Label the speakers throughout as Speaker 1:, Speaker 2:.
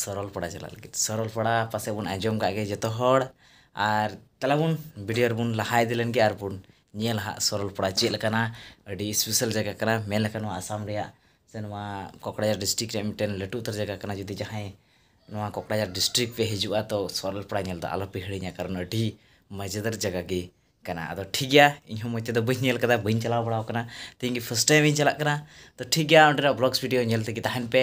Speaker 1: ᱥᱚᱨᱚᱞᱯᱟᱲᱟ ᱪᱟᱞᱟᱜ ᱞᱟᱹᱜᱤᱫ ᱥᱚᱨᱚᱞᱯᱟᱲᱟ ᱯᱟᱥᱮᱡ ᱵᱚᱱ ᱟᱸᱡᱚᱢ ᱠᱟᱜ ᱜᱮᱭᱟ ᱡᱚᱛᱚ ᱦᱚᱲ ᱟᱨ ᱫᱮᱞᱟ ᱵᱚᱱ ᱵᱷᱤᱰᱤᱭᱳ ᱨᱮᱵᱚᱱ ᱞᱟᱦᱟ ᱤᱫᱤ ᱞᱮᱱᱜᱮ ᱟᱨ ᱵᱚᱱ ᱧᱮᱞ ᱟᱜ ᱥᱚᱨᱚᱞᱯᱟᱲᱟ ᱪᱮᱫ ᱞᱮᱠᱟᱱᱟ ᱟᱹᱰᱤ ᱥᱯᱮᱥᱟᱞ ᱡᱟᱭᱜᱟ ᱠᱟᱱᱟ ᱢᱮᱱ ᱞᱮᱠᱷᱟᱱ ᱱᱚᱣᱟ ᱟᱥᱟᱢ ᱨᱮᱭᱟᱜ ᱥᱮ ᱱᱚᱣᱟ ᱠᱚᱠᱲᱟᱡᱟᱲ ᱰᱤᱥᱴᱤᱠ ᱨᱮᱭᱟᱜ ᱢᱤᱫᱴᱮᱱ ᱞᱟᱹᱴᱩ ᱩᱛᱟᱹᱨ ᱡᱟᱭᱜᱟ ᱠᱟᱱᱟ ᱡᱩᱫᱤ ᱡᱟᱦᱟᱸᱭ ᱱᱚᱣᱟ ᱠᱚᱠᱲᱟᱡᱟᱲ ᱰᱤᱥᱴᱤᱠ ᱯᱮ ᱦᱤᱡᱩᱜᱼᱟ ᱛᱚ ᱥᱚᱨᱚᱞᱯᱟᱲᱟ ᱧᱮᱞ ᱫᱚ ᱟᱞᱚ ᱯᱮ ᱦᱤᱲᱤᱧᱟ ᱠᱟᱨᱚᱱ ᱟᱹᱰᱤ ᱢᱚᱡᱮᱫᱟᱨ ᱡᱟᱭᱜᱟ ᱜᱮ ᱠᱟᱱᱟ ᱟᱫᱚ ᱴᱷᱤᱠ ᱜᱮᱭᱟ ᱤᱧ ᱦᱚᱸ ᱢᱚᱡᱽ ᱛᱮᱫᱚ ᱵᱟᱹᱧ ᱧᱮᱞ ᱠᱟᱫᱟ ᱵᱟᱹᱧ ᱪᱟᱞᱟᱣ ᱵᱟᱲᱟᱣ ᱠᱟᱱᱟ ᱛᱮᱦᱮᱧ ᱜᱮ ᱯᱷᱟᱥᱴ ᱴᱟᱭᱤᱢ ᱤᱧ ᱪᱟᱞᱟᱜ ᱠᱟᱱᱟ ᱛᱚ ᱴᱷᱤᱠ ᱜᱮᱭᱟ ᱚᱸᱰᱮᱱᱟᱜ ᱵᱞᱚᱜᱽᱥ ᱵᱷᱤᱰᱤᱭᱳ ᱧᱮᱞ ᱛᱮᱜᱮ ᱛᱟᱦᱮᱱ ᱯᱮ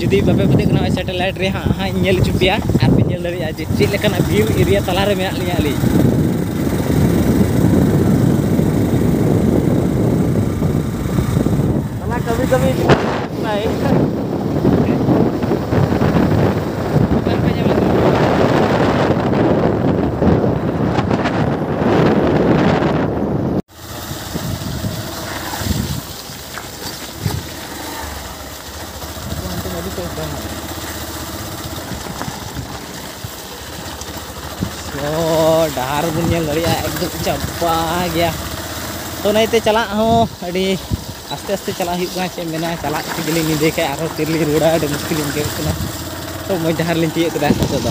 Speaker 1: ᱡᱩᱫᱤ ᱵᱟᱯᱮ ᱯᱟᱹᱛᱭᱟᱹᱜ ᱠᱟᱱᱟ ᱱᱚᱜᱼᱚᱭ ᱥᱮᱴᱮᱞᱟᱭᱤᱴ ᱨᱮ ᱦᱟᱸᱜ ᱦᱟᱸᱜ ᱤᱧ ᱧᱮᱞ ᱦᱚᱪᱚ ᱯᱮᱭᱟ ᱟᱨ ᱯᱮ ᱧᱮᱞ ᱫᱟᱲᱮᱭᱟᱜᱼᱟ ᱡᱮ ᱪᱮᱫ ᱞᱮᱠᱟᱱᱟᱜ ᱵᱷᱤᱭᱩ ᱮᱨᱤᱭᱟ ᱛᱟᱞᱟᱨᱮ ᱢᱮᱱᱟᱜ ᱞᱤᱧᱟ ᱟᱹᱞᱤᱧ ᱛᱟᱞᱟ ᱠᱟᱹᱢᱤ ᱠᱟᱹᱢᱤ ᱵᱟᱭ ᱛᱚ ᱰᱟᱦᱟᱨ ᱵᱚᱱ ᱧᱮᱞ ᱫᱟᱲᱮᱭᱟᱜᱼᱟ ᱮᱠᱫᱚᱢ ᱪᱟᱯᱟ ᱜᱮᱭᱟ ᱛᱚ ᱱᱟᱭᱛᱮ ᱪᱟᱞᱟᱜ ᱦᱚᱸ ᱟᱹᱰᱤ ᱟᱥᱛᱮ ᱟᱥᱛᱮ ᱪᱟᱞᱟᱜ ᱦᱩᱭᱩᱜ ᱠᱟᱱᱟ ᱪᱮᱫ ᱢᱮᱱᱟ ᱪᱟᱞᱟᱜ ᱛᱮᱜᱮᱞᱤᱧ ᱧᱤᱫᱟᱹ ᱠᱷᱟᱡ ᱟᱨᱦᱚᱸ ᱛᱤᱨᱮᱞᱤᱧ ᱨᱩᱣᱟᱹᱲᱟ ᱟᱹᱰᱤ ᱢᱩᱥᱠᱤᱞ ᱤᱧ ᱟᱹᱭᱠᱟᱹᱣᱮᱫ ᱠᱟᱱᱟ ᱛᱚ ᱢᱚᱡᱽ ᱰᱟᱦᱟᱨ ᱞᱤᱧ ᱛᱤᱭᱳᱜ ᱠᱮᱫᱟ ᱱᱤᱛᱚᱜ ᱫᱚ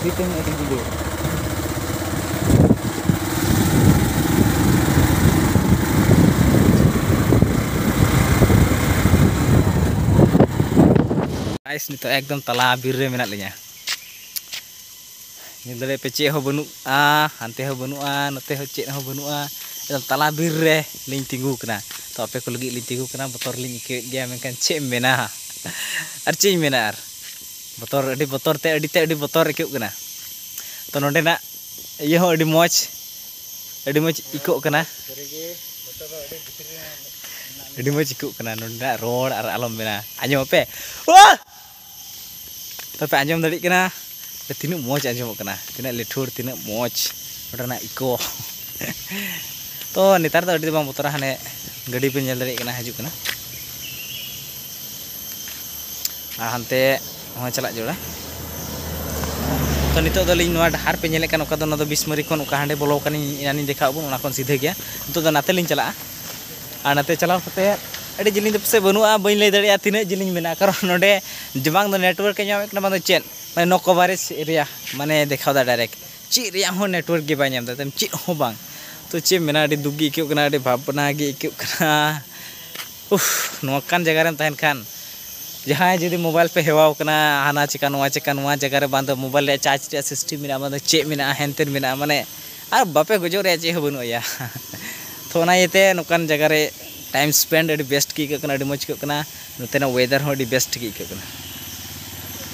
Speaker 1: ᱢᱤᱫᱴᱮᱱ ᱟᱹᱰᱤ ᱡᱩᱫᱟᱹ ᱜᱟᱭᱥ ᱱᱤᱛᱚᱜ ᱮᱠᱫᱚᱢ ᱛᱟᱞᱟ ᱵᱤᱨ ᱨᱮ ᱢᱮᱱᱟᱜ ᱞᱤᱧᱟ ᱧᱮᱞ ᱫᱟᱲᱮ ᱯᱮ ᱪᱮᱫ ᱦᱚᱸ ᱵᱟᱹᱱᱩᱜᱼᱟ ᱦᱟᱱᱛᱮ ᱦᱚᱸ ᱵᱟᱹᱱᱩᱜᱼᱟ ᱱᱚᱛᱮ ᱦᱚᱸ ᱪᱮᱫ ᱦᱚᱸ ᱵᱟᱹᱱᱩᱜᱼᱟ ᱮᱠᱫᱚᱢ ᱛᱟᱞᱟ ᱵᱤᱨ ᱨᱮ ᱞᱤᱧ ᱛᱤᱸᱜᱩ ᱠᱟᱱᱟ ᱛᱚ ᱟᱯᱮ ᱠᱚ ᱞᱟᱹᱜᱤᱫ ᱞᱤᱧ ᱛᱤᱸᱜᱩ ᱠᱟᱱᱟ ᱵᱚᱛᱚᱨ ᱞᱤᱧ ᱟᱹᱭᱠᱟᱹᱣᱮᱫ ᱜᱮᱭᱟ ᱢᱮᱱᱠᱷᱟᱱ ᱪᱮᱫ ᱮᱢ ᱢᱮᱱᱟ ᱟᱨ ᱪᱮᱫ ᱤᱧ ᱢᱮᱱᱟ ᱟᱨ ᱵᱚᱛᱚᱨ ᱟᱹᱰᱤ ᱵᱚᱛᱚᱨ ᱛᱮ ᱟᱹᱰᱤ ᱛᱮ ᱟᱹᱰᱤ ᱵᱚᱛᱚᱨ ᱟᱹᱭᱠᱟᱹᱜ ᱠᱟᱱᱟ ᱛᱚ ᱱᱚᱰᱮᱱᱟᱜ ᱤᱭᱟᱹ ᱦᱚᱸ ᱟᱹᱰᱤ ᱢᱚᱡᱽ ᱟᱹᱰᱤ ᱢᱚᱡᱽ ᱟᱹᱭᱠᱟᱹᱜ ᱠᱟᱱᱟ ᱟᱹᱰᱤ ᱢᱚᱡᱽ ᱟᱹᱭᱠᱟᱹᱜ ᱠᱟᱱᱟ ᱱᱚᱰᱮᱱᱟᱜ ᱨᱚᱲ ᱟᱨ ᱟᱞᱚᱢ ᱢᱮᱱᱟ ᱟᱸᱡᱚᱢ ᱟᱯᱮ ᱛᱚᱯᱮ ᱟᱸᱡᱚᱢ ᱫᱟᱲᱮᱭᱟᱜ ᱠᱟᱱᱟ ᱛᱤᱱᱟᱹᱜ ᱢᱚᱡᱽ ᱟᱸᱡᱚᱢᱚᱜ ᱠᱟᱱᱟ ᱛᱤᱱᱟᱹᱜ ᱞᱤᱴᱷᱩᱨ ᱛᱤᱱᱟᱹᱜ ᱢᱚᱡᱽ ᱱᱚᱰᱮᱱᱟᱜ ᱤᱠᱳ ᱛᱚ ᱱᱮᱛᱟᱨ ᱫᱚ ᱟᱹᱰᱤ ᱫᱚ ᱵᱟᱝ ᱵᱚᱛᱚᱨᱟ ᱦᱟᱱᱮ ᱜᱟᱹᱰᱤ ᱯᱮ ᱧᱮᱞ ᱫᱟᱲᱮᱭᱟᱜ ᱠᱟᱱᱟ ᱦᱤᱡᱩᱜ ᱠᱟᱱᱟ ᱟᱨ ᱦᱟᱱᱛᱮ ᱦᱚᱸ ᱪᱟᱞᱟᱜ ᱡᱚᱲᱟ ᱛᱚ ᱱᱤᱛᱚᱜ ᱫᱚ ᱞᱤᱧ ᱱᱚᱣᱟ ᱰᱟᱦᱟᱨ ᱯᱮ ᱧᱮᱞᱮᱫ ᱠᱟᱱ ᱚᱠᱟ ᱫᱚ ᱱᱚᱣᱟ ᱫᱚ ᱵᱤᱥᱢᱟᱹᱨᱤ ᱠᱷᱚᱱ ᱚᱠᱟ ᱦᱟᱸᱰᱮ ᱵᱚᱞᱚ ᱠᱟᱱᱤᱧ ᱮᱱᱟᱱᱤᱧ ᱫᱮᱠᱷᱟᱣ ᱵᱚᱱ ᱚᱱᱟ ᱠᱷᱚᱱ ᱥᱤᱫᱷᱟᱹ ᱜᱮᱭᱟ ᱱᱤᱛᱚᱜ ᱫᱚ ᱱᱟᱛᱮ ᱞᱤᱧ ᱪᱟᱞᱟᱜᱼᱟ ᱟᱨ ᱱᱟᱛᱮ ᱪᱟᱞᱟᱣ ᱠᱟᱛᱮ ᱟᱹᱰᱤ ᱡᱤᱞᱤᱧ ᱫᱚ ᱯᱟᱥᱮᱡ ᱵᱟᱹᱱᱩᱜᱼᱟ ᱵᱟᱹᱧ ᱞᱟᱹᱭ ᱫᱟᱲᱮᱭᱟᱜᱼᱟ ᱛᱤᱱᱟᱹᱜ ᱡᱤᱞᱤᱧ ᱢᱮᱱᱟᱜᱼᱟ ᱠᱟᱨᱚᱱ ᱱᱚᱰᱮ ᱵᱟᱝ ᱫᱚ ᱱᱮᱴᱣᱟᱨᱠ ᱮ ᱧᱟᱢᱮᱫ ᱠᱟᱱᱟ ᱵᱟᱝ ᱫᱚ ᱪᱮᱫ ᱢᱟᱱᱮ ᱱᱳ ᱠᱚᱵᱷᱟᱨᱮᱡᱽ ᱮᱨᱤᱭᱟ ᱢᱟᱱᱮ ᱫᱮᱠᱷᱟᱣ ᱮᱫᱟ ᱰᱟᱭᱨᱮᱠᱴ ᱪᱮᱫ ᱨᱮᱭᱟᱜ ᱦᱚᱸ ᱱᱮᱴᱣᱟᱨᱠ ᱜᱮ ᱵᱟᱭ ᱧᱟᱢ ᱮᱫᱟ ᱪᱮᱫ ᱦᱚᱸ ᱵᱟᱝ ᱛᱚ ᱪᱮᱫ ᱮᱢ ᱢᱮᱱᱟ ᱟᱹᱰᱤ ᱫᱩᱠ ᱜᱮ ᱟᱹᱭᱠᱟᱹᱜ ᱠᱟᱱᱟ ᱟᱹᱰᱤ ᱵᱷᱟᱵᱽᱱᱟ ᱜᱮ ᱟᱹᱭᱠᱟᱹᱜ ᱠᱟᱱᱟ ᱩᱯᱷ ᱱᱚᱝᱠᱟᱱ ᱡᱟᱭᱜᱟ ᱨᱮᱢ ᱛᱟᱦᱮᱱ ᱠᱷᱟᱱ ᱡᱟᱦᱟᱸᱭ ᱡᱩᱫᱤ ᱢᱳᱵᱟᱭᱤᱞ ᱯᱮ ᱦᱮᱣᱟ ᱟᱠᱟᱱᱟ ᱦᱟᱱᱟ ᱪᱤᱠᱟᱹ ᱱᱚᱣᱟ ᱪᱤᱠᱟᱹ ᱱᱚᱣᱟ ᱡᱟᱭᱜᱟ ᱨᱮ ᱵᱟᱝ ᱫᱚ ᱢᱳᱵᱟᱭᱤᱞ ᱨᱮᱭᱟᱜ ᱪᱟᱨᱡᱽ ᱨᱮᱭᱟᱜ ᱥᱤᱥᱴᱮᱢ ᱢᱮᱱᱟᱜᱼᱟ ᱵᱟᱝ ᱫᱚ ᱪᱮᱫ ᱢᱮᱱᱟᱜᱼᱟ ᱦᱮᱱ ᱛᱮᱱ ᱢᱮᱱᱟᱜᱼᱟ ᱢᱟᱱᱮ ᱟᱨ ᱵᱟᱯᱮ ᱜᱚᱡᱚᱜ ᱨᱮᱭᱟᱜ ᱪᱮᱫ ᱦᱚᱸ ᱵᱟᱹᱱᱩᱜᱼᱟ ᱭᱟ ᱛᱚ ᱚᱱᱟ ᱤᱭᱟᱹ ᱛᱮ ᱱᱚᱝᱠᱟᱱ ᱡᱟᱭᱜᱟ ᱨᱮ ᱴᱟᱭᱤᱢ ᱥᱯᱮᱱᱰ ᱟᱹᱰᱤ ᱵᱮᱥᱴ ᱜᱮ ᱟᱹᱭᱠᱟᱹᱜ ᱠᱟᱱᱟ ᱟᱹᱰᱤ ᱢᱚᱡᱽ ᱟᱹᱭᱠᱟᱹᱜ ᱠᱟᱱᱟ ᱱᱚᱛᱮᱱᱟᱜ ᱚᱭᱮᱫᱟᱨ ᱦᱚᱸ ᱟᱹᱰᱤ ᱵᱮᱥᱴ ᱜᱮ ᱟᱹᱭᱠᱟᱹᱜ ᱠᱟᱱᱟ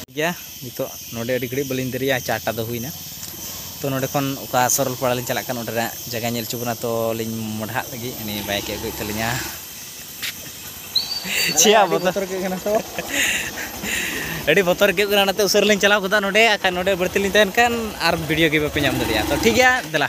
Speaker 1: ᱴᱷᱤᱠ ᱜᱮᱭᱟ ᱱᱤᱛᱚᱜ ᱱᱚᱰᱮ ᱟᱹᱰᱤ ᱜᱷᱟᱹᱲᱤᱡ ᱵᱟᱹᱞᱤᱧ ᱫᱮᱨᱤᱭᱟ ᱪᱟᱨᱴᱟ ᱫᱚ ᱦᱩᱭᱱᱟ ᱛᱚ ᱱᱚᱰᱮ ᱠᱷᱚᱱ ᱚᱠᱟ ᱥᱚᱨᱚᱞᱯᱟᱲᱟ ᱞᱤᱧ ᱪᱟᱞᱟᱜ ᱠᱟᱱ ᱚᱸᱰᱮ ᱨᱮᱱᱟᱜ ᱡᱟᱭᱜᱟ ᱧᱮᱞ ᱦᱚᱪᱚ ᱵᱚᱱᱟ ᱛᱚ ᱞᱤᱧ ᱢᱚᱰᱷᱟᱜ ᱞᱟᱹᱜᱤᱫ ᱩᱱᱤ ᱵᱟᱭᱤᱠ ᱮ ᱟᱹᱜᱩᱭᱮᱫ ᱛᱟᱹᱞᱤᱧᱟ ᱪᱮᱫ ᱟᱹᱰᱤ ᱵᱚᱛᱚᱨ ᱟᱹᱭᱠᱟᱹᱜ ᱠᱟᱱᱟ ᱛᱚ ᱟᱹᱰᱤ ᱵᱚᱛᱚᱨ ᱟᱹᱭᱠᱟᱹᱜ ᱠᱟᱱᱟ ᱚᱱᱟᱛᱮ ᱩᱥᱟᱹᱨᱟ ᱞᱤᱧ ᱪᱟᱞᱟᱣ ᱜᱚᱫᱟ ᱱᱚᱰᱮ ᱟᱨ ᱱᱚᱰᱮ ᱵᱟᱹᱲᱛᱤ ᱞᱤᱧ ᱛᱟᱦᱮᱱ ᱠᱷᱟᱱ ᱟᱨ ᱵᱷᱤᱰᱤᱭᱳ ᱜᱮ ᱵᱟᱯᱮ ᱧᱟᱢ ᱫᱟᱲᱮᱭᱟᱜᱼᱟ ᱛᱚ ᱴᱷᱤᱠ ᱜᱮᱭᱟ ᱫᱮᱞᱟ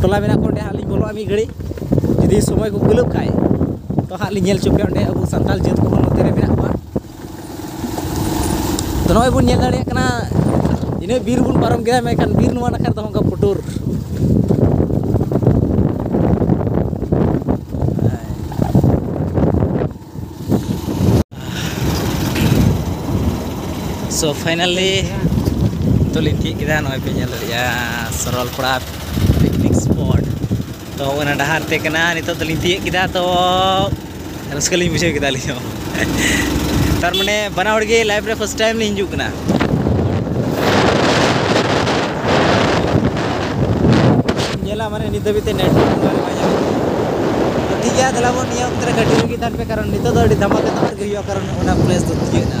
Speaker 1: ᱴᱚᱞᱟ ᱢᱮᱱᱟᱜ ᱠᱚᱣᱟ ᱚᱸᱰᱮ ᱦᱟᱸᱜ ᱞᱤᱧ ᱵᱚᱞᱚᱜᱼᱟ ᱢᱤᱫ ᱜᱷᱟᱹᱲᱤᱡ ᱡᱩᱫᱤ ᱥᱚᱢᱚᱭ ᱠᱚ ᱠᱩᱞᱟᱹᱜ ᱠᱷᱟᱡ ᱛᱚ ᱦᱟᱸᱜ ᱞᱤᱧ ᱧᱮᱞ ᱦᱚᱪᱚ ᱯᱮᱭᱟ ᱚᱸᱰᱮ ᱟᱵᱚ ᱥᱟᱱᱛᱟᱲ ᱡᱟᱹᱛ ᱠᱚᱦᱚᱸ ᱱᱚᱛᱮ ᱨᱮ ᱢᱮᱱᱟᱜ ᱠᱚᱣᱟ ᱛᱚ ᱱᱚᱜᱼᱚᱭ ᱵᱚᱱ ᱧᱮᱞ ᱫᱟᱲᱮᱭᱟᱜ ᱠᱟᱱᱟ ᱤᱱᱟᱹ ᱵᱤᱨ ᱵᱚᱱ ᱯᱟᱨᱚᱢ ᱠᱮᱫᱟ ᱢᱮᱱᱠᱷᱟᱱ ᱵᱤᱨ ᱱᱚᱣᱟ ᱱᱟᱠᱷᱟ ᱨᱮᱫᱚ ᱚᱱᱠᱟ ᱯᱩᱴᱩᱨ ᱥᱚ ᱯᱷᱟᱭᱱᱟᱞᱤ ᱱᱤᱛᱚᱜ ᱞᱤᱧ ᱛᱤᱭᱳᱜ ᱠᱮᱫᱟ ᱱᱚᱜᱼᱚᱭ ᱯᱮ ᱧᱮᱞ ᱫᱟᱲᱮᱭᱟᱜᱼᱟ ᱥᱚᱨᱚᱞᱯᱟᱲᱟ ᱯᱤᱠᱱᱤᱠ ᱥᱯᱚᱴ ᱛᱚ ᱚᱱᱟ ᱰᱟᱦᱟᱨ ᱛᱮ ᱠᱟᱱᱟ ᱱᱤᱛᱚᱜ ᱫᱚᱞᱤᱧ ᱛᱤᱭᱳᱜ ᱠᱮᱫᱟ ᱛᱚ ᱨᱟᱹᱥᱠᱟᱹ ᱞᱤᱧ ᱵᱩᱡᱷᱟᱹᱣ ᱠᱮᱫᱟ ᱟᱹᱞᱤᱧ ᱦᱚᱸ ᱛᱟᱨ ᱢᱟᱱᱮ ᱵᱟᱱᱟ ᱦᱚᱲ ᱜᱮ ᱞᱟᱭᱤᱯᱷ ᱨᱮ ᱯᱷᱟᱥᱴ ᱴᱟᱭᱤᱢ ᱞᱤᱧ ᱦᱤᱡᱩᱜ ᱠᱟᱱᱟ ᱧᱮᱞᱟ ᱢᱟᱱᱮ ᱱᱤᱛ ᱫᱷᱟᱹᱵᱤᱡ ᱛᱮ ᱱᱮᱴ ᱴᱷᱤᱠ ᱜᱮᱭᱟ ᱫᱮᱞᱟᱵᱚᱱ ᱱᱤᱭᱟᱹ ᱚᱠᱛᱮ ᱨᱮ ᱠᱟᱹᱴᱤᱡ ᱨᱮᱜᱮ ᱛᱟᱦᱮᱱ ᱯᱮ ᱠᱟᱨᱚᱱ ᱱᱤᱛᱚᱜ ᱫᱚ ᱟᱹᱰᱤ ᱫᱷᱟᱢᱟᱠᱟ ᱫᱷᱟᱢᱟᱠᱟ ᱜᱮ ᱦᱩᱭᱩᱜᱼᱟ ᱠᱟᱨᱚᱱ ᱚᱱᱟ ᱯᱞᱮᱥ ᱫᱚ ᱛᱤᱭᱟᱹᱜ ᱮᱱᱟ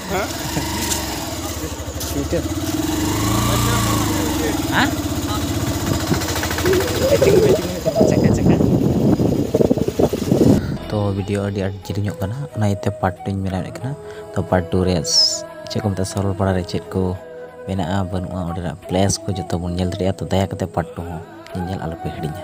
Speaker 1: ᱛᱚ ᱵᱷᱤᱰᱤᱭᱳ ᱟᱹᱰᱤ ᱟᱸᱴ ᱡᱤᱞᱤᱧᱚᱜ ᱠᱟᱱᱟ ᱚᱱᱟ ᱤᱭᱟᱹᱛᱮ ᱯᱟᱨᱴ ᱴᱩᱧ ᱵᱮᱱᱟᱣᱮᱫ ᱠᱟᱱᱟ ᱛᱚ ᱯᱟᱨᱴ ᱴᱩ ᱨᱮ ᱪᱮᱫ ᱠᱚ ᱢᱮᱛᱟᱜᱼᱟ ᱥᱚᱨᱚᱞᱯᱟᱲᱟ ᱨᱮ ᱪᱮᱫ ᱠᱚ ᱢᱮᱱᱟᱜᱼᱟ ᱵᱟᱹᱱᱩᱜᱼᱟ ᱚᱸᱰᱮᱱᱟᱜ ᱯᱞᱮᱥ ᱠᱚ ᱡᱚᱛᱚ ᱵᱚᱱ ᱧᱮᱞ ᱫᱟᱲᱮᱭᱟᱜᱼᱟ ᱛᱚ ᱫᱟᱭᱟ ᱠᱟᱛᱮ ᱯᱟᱨᱴ ᱴᱩ ᱦᱚᱸ ᱧᱮᱧᱮᱞ ᱟᱞᱚᱯᱮ ᱦᱤᱲᱤᱧᱟ